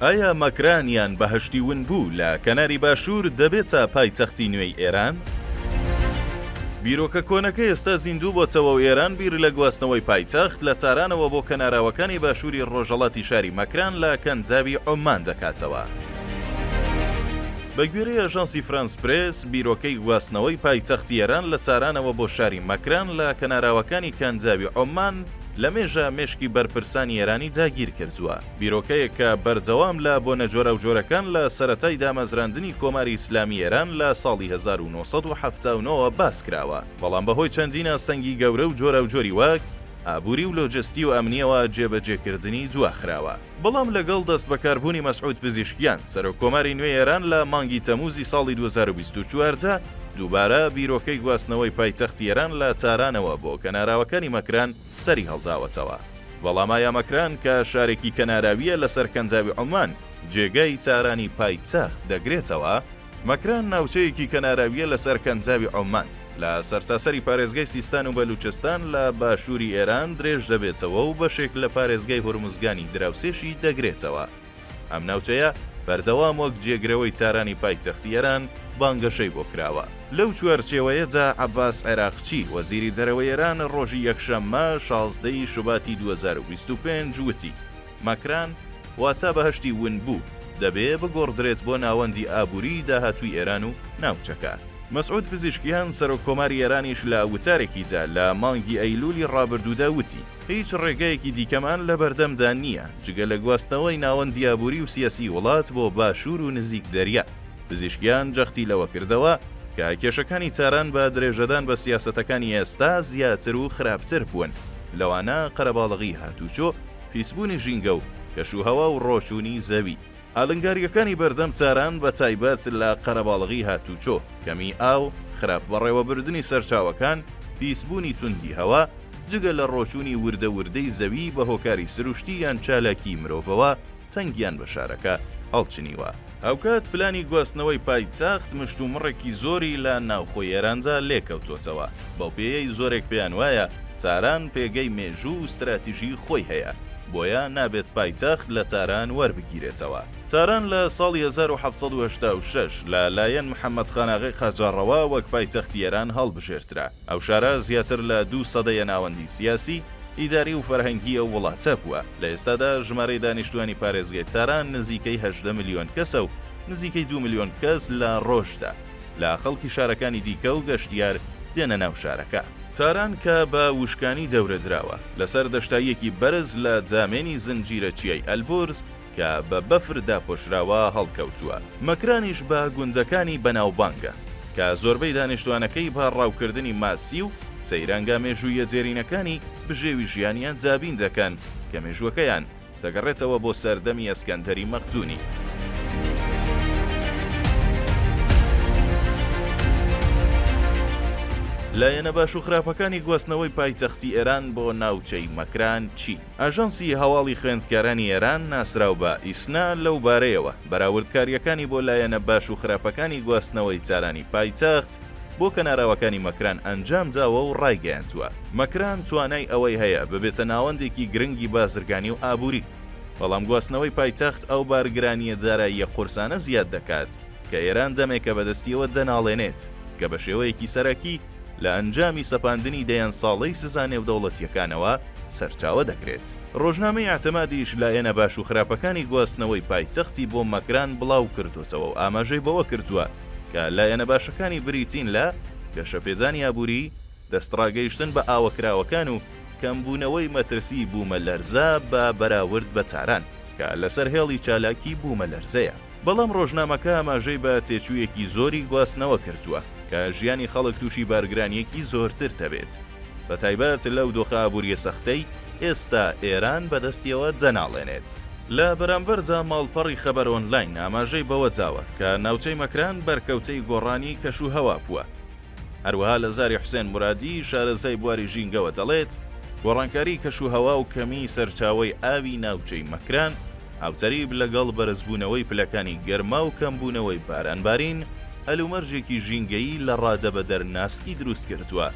ئایا مەکران یان بەهەشتی ون بوو لە کەناری باشوور دەبێتە پایتەختی نوێی ئێران؟ بیرۆکە کۆنەکە ئێستا زیندوو بۆتەوە و ئێران بیر لە گواستنەوەی پایتەخت لە تارانەوە بۆ کەناراوەکانی باشووری ڕۆژەڵاتی شاری مەکران لە کەنجاوی عوممان دەکاتەوە. بە گوێرەی ئاژانسی فرانس پرێس، بیرۆکەی گواستنەوەی پایتەختی ئێران لە تارانەوە بۆ شاری مەکران لە کەناراوەکانی کەنجاوی عوممان لە مێژە مێشکی بەرپرسانی ئێرانی داگیر کردووە. بیرۆکەیەک کە بەردەوام لە بۆنە جۆراوجۆرەکان لە سەرەتای دامەزراندنی کۆماری ئیسلامی ئێران لە ساڵی هەزار و نۆ سەد و حەفتا و نۆ وە باس کراوە، بەڵام بە هۆی چەندین ئاستەنگی گەورە و جۆراوجۆری وەک، ئابووری و لۆجستی و ئەمنییەوە جێبەجێکردنی دواخراوە. بەڵام لەگەڵ دەستبەکاربوونی مەسعود پزیشکیان، سەرۆک کۆماری نوێی ئێران لە مانگی تەمووزی ساڵی دوو هەزار و بیست و چوار دا، دووبارە بیرۆکەی گواستنەوەی پایتەختی ئێران لە تارانەوە بۆ کەناراوەکانی مەکران، سەری هەڵداوەتەوە. وەڵامایا مەکران کە شارێکی کەناراوییە لەسەر کەنداوی عومان جێگای تارانی پایتەخت دەگرێتەوە، مەکران ناوچەیەکی کەناراوییە لەسەر کەنداوی عومان، لە سەرتاسەری پارێزگای سیستان و بەلووچستان لە باشووری ئێران درێژدەبێتەوە و بەشێک لە پارێزگای هورمزگانی دراوسێشی دەگرێتەوە. ئەم ناوچەیە بەردەوام وەک جێگرەوەی تارانی پایتەختی ئێران بانگەشەی بۆ کراوە. لەو چوارچێوەیەدا عەباس عێراقچی، وەزیری دەرەوەی ئێران ڕۆژی یەکشەممە شازدە ی شوباتی دوو هەزار و بیست و پێنج وتی، مەکران، واتا بەهەشتی ونبوو، دەبێ بگۆڕدرێت بۆ ناوەندی ئابووریی داهاتووی ئێران و ناوچەکە. مەسعود پزیشکیان، سەرۆککۆماری ئێرانیش لە وتارێکیدا لە مانگی ئەیلوولی ڕابردوودا وتی، هیچ ڕێگەیەکی دیکەمان لە بەردەمدا نییە جگە لە گواستنەوەی ناوەندی ئابووری و سیاسی وڵات بۆ باشوور و نزیک دەریا. پزیشکیان جەختی لەوە کردەوە کە کێشەکانی تاران بە درێژەدان بە سیاسەتەکانی ئێستا زیاتر و خراپتر بوون، لەوانە قەرەباڵغی هاتووچۆ، پیسبوونی ژینگە و کەشوهەوا و ڕۆچوونی زەوی. ئالنگارییەکانی بەردەم تاران بە تایبەت لە قەرەباڵغی هاتووچۆ، کەمیی ئاو، خراپ بەڕێوەبردنی سەرچاوەکان، پیسبوونی توندی هەوا، جگە لە ڕۆچوونی وردە وردەی زەوی بە هۆکاری سروشتی یان چالاکیی مرۆڤەوە، تەنگیان بە شارەکە هەڵچنیوە. هاوکات پلانی گواستنەوەی پایتەخت مشتومڕێکی زۆری لە ناوخۆی ئێراندا لێکەوتۆتەوە، بەو پێیەی زۆرێک پێیان وایە تاران پێگەی مێژوو و ستراتیژیی خۆی هەیە. بۆیە نابێت پایتەخت لە تاران وەربگیرێتەوە. تاران لە ساڵی هەزار و حەڤت سەد و هەشتا و شەش لە لایەن محەمەد خاناغی قاجاڕەوە وەک پایتەختی ئێران هەڵبژێرترا. ئەو شارە زیاتر لە دوو سەدەیە ناوەندی سیاسی، ئیداری و فەرهەنگی ئەو وڵاتە بووە. لە ئێستادا ژمارەی دانیشتووانی پارێزگای تاران نزیکەی هەژدە ملیۆن کەسە و نزیکەی دوو ملیۆن کەس لە ڕۆژدا. لە خەڵکی شارەکانی دیکە و گەشتیار دێنە ناو شارەکە. تاران کە بە وشکانی دەورەدراوە، لەسەر دەشتاییەکی بەرز لە دامێنی زنجیرە چیای ئەلبورز کە بە بەفر داپۆشراوە هەڵکەوتووە، مەکرانیش بە گوندەکانی بەناوبانگە کە زۆربەی دانیشتوانەکەی بە ڕاوکردنی ماسی و سەیرانگا مێژووییە دێرینەکانی بژێوی ژیانیان دابین دەکەن کە مێژووەکەیان دەگەڕێتەوە بۆ سەردەمی ئەسکەندەری مەقدونی. لایەنە باش و خراپەکانی گواستنەوەی پایتەختی ئێران بۆ ناوچەی مەکران چین. ئاژانسی هەواڵی خوێندکارانی ئێران، ناسراو بە، ئیسنا، لەو بارەیەوە، بەراوردکارییەکانی بۆ لایەنە باش و خراپەکانی گواستنەوەی تارانی پایتەخت، بۆ کەناراوەکانی مەکران ئەنجامداوە و ڕایگەیاندووە، مەکران توانای ئەوەی هەیە ببێتە ناوەندێکی گرنگی بازرگانی و ئابووری، بەڵام گواستنەوەی پایتەخت ئەو بارگرانییە داراییە قورسانە زیاد دەکات کە ئێران دەمێکە بەدەستیەوە دەناڵێنێت کە بە شێوەیەکی سەرەکی لە ئەنجامی سەپاندنی دەیان ساڵەی سزا نێودەوڵەتییەکانەوە سەرچاوە دەگرێت. ڕۆژنامەی ئیعتمادیش لایەنە باش و خراپەکانی گواستنەوەی پایتەختی بۆ مەکران بڵاوکردۆتەوە و ئاماژەی بەوە کردووە، کە لایەنە باشەکانی بریتین لە، گەشەپێدانی ئابووری، دەستڕاگەیشتن بە ئاوە کراوەکان و کەمبوونەوەی مەترسیی بوومەلەرزە بە بەراورد بە تاران، کە لەسەر هێڵی چالاکی بوومەلەرزەیە. بەڵام ڕۆژنامەکە ئاماژەی بە تێچوویەکی زۆری گواستنەوە کردووە، کە ژیانی خەڵک تووشی بارگرانییەکی زۆرتر دەبێت. بە تایبەت لەو دۆخە ئابوورییە سەختەی ئێستا ئێران بەدەستیەوە دەناڵێنێت. لە بەرامبەردا ماڵپەڕی خەبەر ئۆنلاین ئاماژەی بەوەداوە کە ناوچەی مەکران بەرکەوتەی گۆڕانی کەشوهەوا بووە. هەروەها لە زاری حوسێن مورادی شارەزای بواری ژینگەوە دەڵێت، گۆڕانکاری کەشوهەوا و کەمیی سەرچاوەی ئاوی ناوچەی مەکران، هاوتەریب لەگەڵ بەرزبوونەوەی پلەکانی گەرما و کەمبوونەوەی بارانبارین، هەلومەرجێکی ژینگەیی لە ڕادەبەدەر ناسکی دروست کردووە،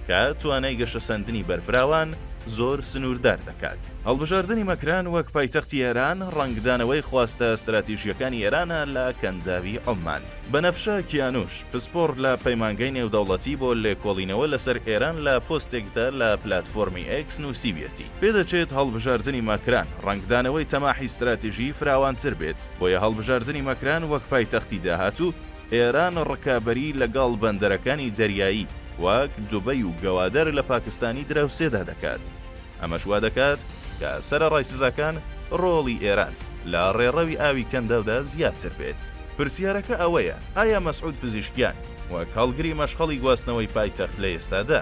کە توانای گەشەسەندنی بەرفراوان زۆر سنووردار دەکات. هەڵبژاردنی مەکران وەک پایتەختی ئێران، ڕەنگدانەوەی خواستە ستراتیژییەکانی ئێرانە لە کەنداوی عوممان. بەنەفشە کیانوش، پسپۆڕ لە پەیمانگەی نێودەوڵەتی بۆ لێکۆڵینەوە لەسەر ئێران لە پۆستێکدا لە پلاتفۆرمی ئێکس نووسیویەتی، پێدەچێت هەڵبژاردنی ماکران ڕەنگدانەوەی تەماحی ستراتیژیی فراوانتر بێت، بۆیە هەڵبژاردنی ماکران وەک پایتەختی داهاتوو، ئێران ڕکابەریی لەگەڵ بەندەرەکانی دەریایی وەک دوبەی و گەوادەر لە پاکستانی دراوسێدا دەکات. ئەمەش وا دەکات کە سەرەڕای سزاکان، ڕۆڵی ئێران لە ڕێڕەوی ئاوی کەنداودا زیاتر بێت. پرسیارەکە ئەوەیە، ئایا مەسعود پزیشکیان وەک هەڵگری مەشخەڵی گواستنەوەی پایتەخت لە ئێستادا،